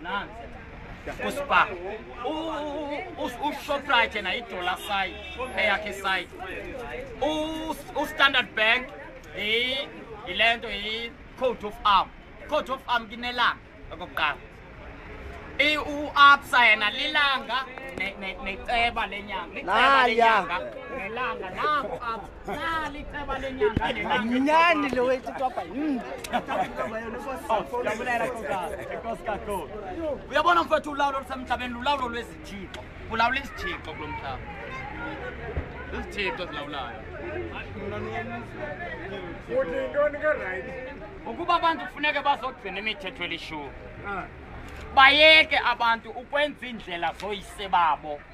nani uspar ushoprite yena yidollar side eyakhe side ustandard bank yile nto yi-coat of arm coat of arm kinelanga okokuqala uapsa yena lilanga neceba lenyanga liceba lenyanga nelanga nangu apsa Nyani lo wetu hapa. Uyabona mfowethu ulawulo lusemhlabeni lulawulo lwezithixo. Kulawula izithixo kulo mhlaba. Izithixo ezilawulayo. Uthi yintoni ke right? Ukuba abantu kufuneke bazogcina imithetho elishumi. Bayeke abantu ukwenza iindlela zoyise babo.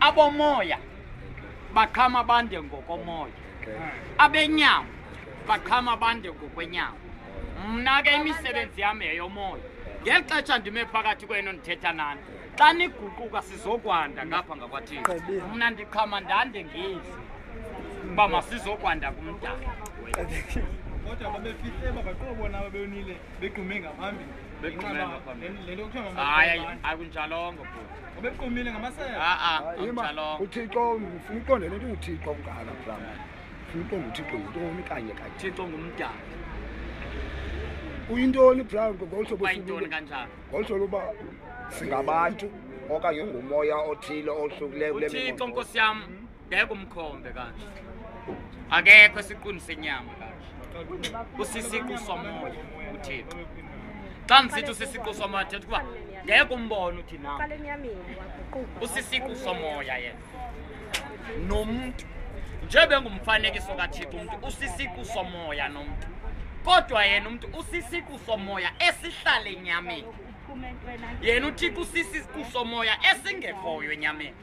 abomoya baqhama bande ngokomoya abenyama baqhama bande ngokwenyama mna ke imisebenzi yam yeyomoya ngeli xesha ndime phakathi kwenu ndithetha nani xa niguquka sizokwanda ngapha ngakwathini mna ndiqhama ndande ngezi uba masizokwanda kumdala kodwa babefihle babaqobo bona babeyonile begqume ngaphambili le nto kuthiwa hayi akunjalongo bhuti ubequmile ngamasebe a-a amtshalonga uthixo ufuna uqonde le nto uthixo ungala mflam ufuna uqonde uthixo yintoni kanye kanye thixo ngumdala uyintoni brown ngolu hlobo bayintoni sibuka- kanjani ngolu hlobo uba singabantu okanye ngumoya othile ohlukileyo kule uthixo mibongo. nkosi yam bheka umkhombe kanje akekho esiqwini senyama kanje usisiqu somoya uthixo xa ndisithi usisiqu somoya thetha ukuba ngeke umbone uthi na usisiqu somoya yena nomntu njebe ngumfanekiso kathixo umntu usisiqu somoya nomntu kodwa yena umntu usisiqu somoya esihlale enyameni yena uthixo usisiqu somoya esingekhoyo enyameni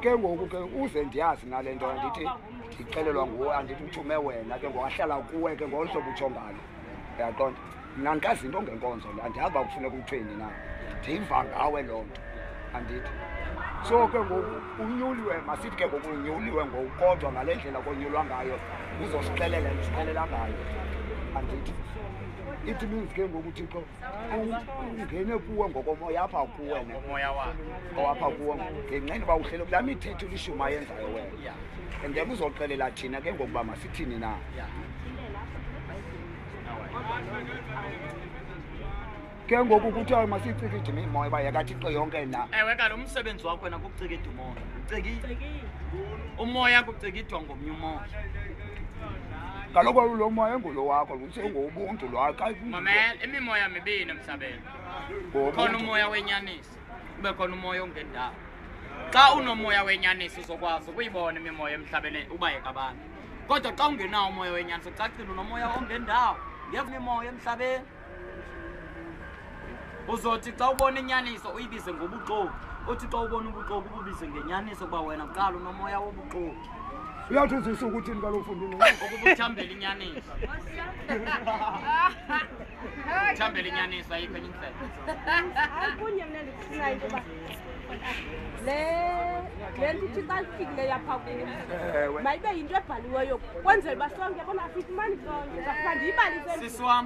ke ngoku ke uze ndiyazi nale nto andithi ndixelelwa nguwe andithi uthume wena ke ngoku ahlala kuwe ke ngolo hlobo utsho ngalo uyaqonda mna ndikazi into ngenkonzo le andiyazi uba kufuneka uthweni na ndiyiva ngawe loo nto andithi so ke ngoku unyuliwe masithi ke ngoku unyuliwe ngoku kodwa ngale ndlela konyulwa ngayo uzosixelela ndisixelela ngayo andithi it means ke ngoku thixo ungene kuwe ngokomoya apha kuwe ngokomoya wakhe owapha kuwe ngenxeni uba uhlele kulaa mithetho ilishumi ayenzayo wena and then uzoxelela thina ke ngokuba masithini na ke ngoku kuthiwa masicike idimimoya uba yakathixo yonke na ewe kalo umsebenzi wakho wena kucika idimoya ucikile umoya kucikidwa ngomnye umoya kaloku lo moya engulo wakho sengobuntu lwaqamamela imimoya mibini emhlabeni khona umoya wenyanisi kube khona umoya ongendawo xa unomoya wenyanisi uzokwazi ukuyibona imimoya emhlabeni ubayeka abantu kodwa xa ungenawo umoya wenyanisi ucacile unomoya ongendawo ngemimoya emhlabeni uzothi xa ubona inyaniso uyibize ngobuxoki uthi xa ubona ubuxoki ububize ngenyaniso uba wena kuqala unomoya wobuxoki uyawuthi uzisa ukuthini kaloku fundini okubuthambela inyaniso thambela inyaniso ayikho enye indlelakunye mna ndikufunayo ukuba le le nto ithi xa zifikile yapha kuyo mayibe yinto ebhaliweyo kwenzela uba sonke bona afifumani sonke ndizakufandiyibalisisiswam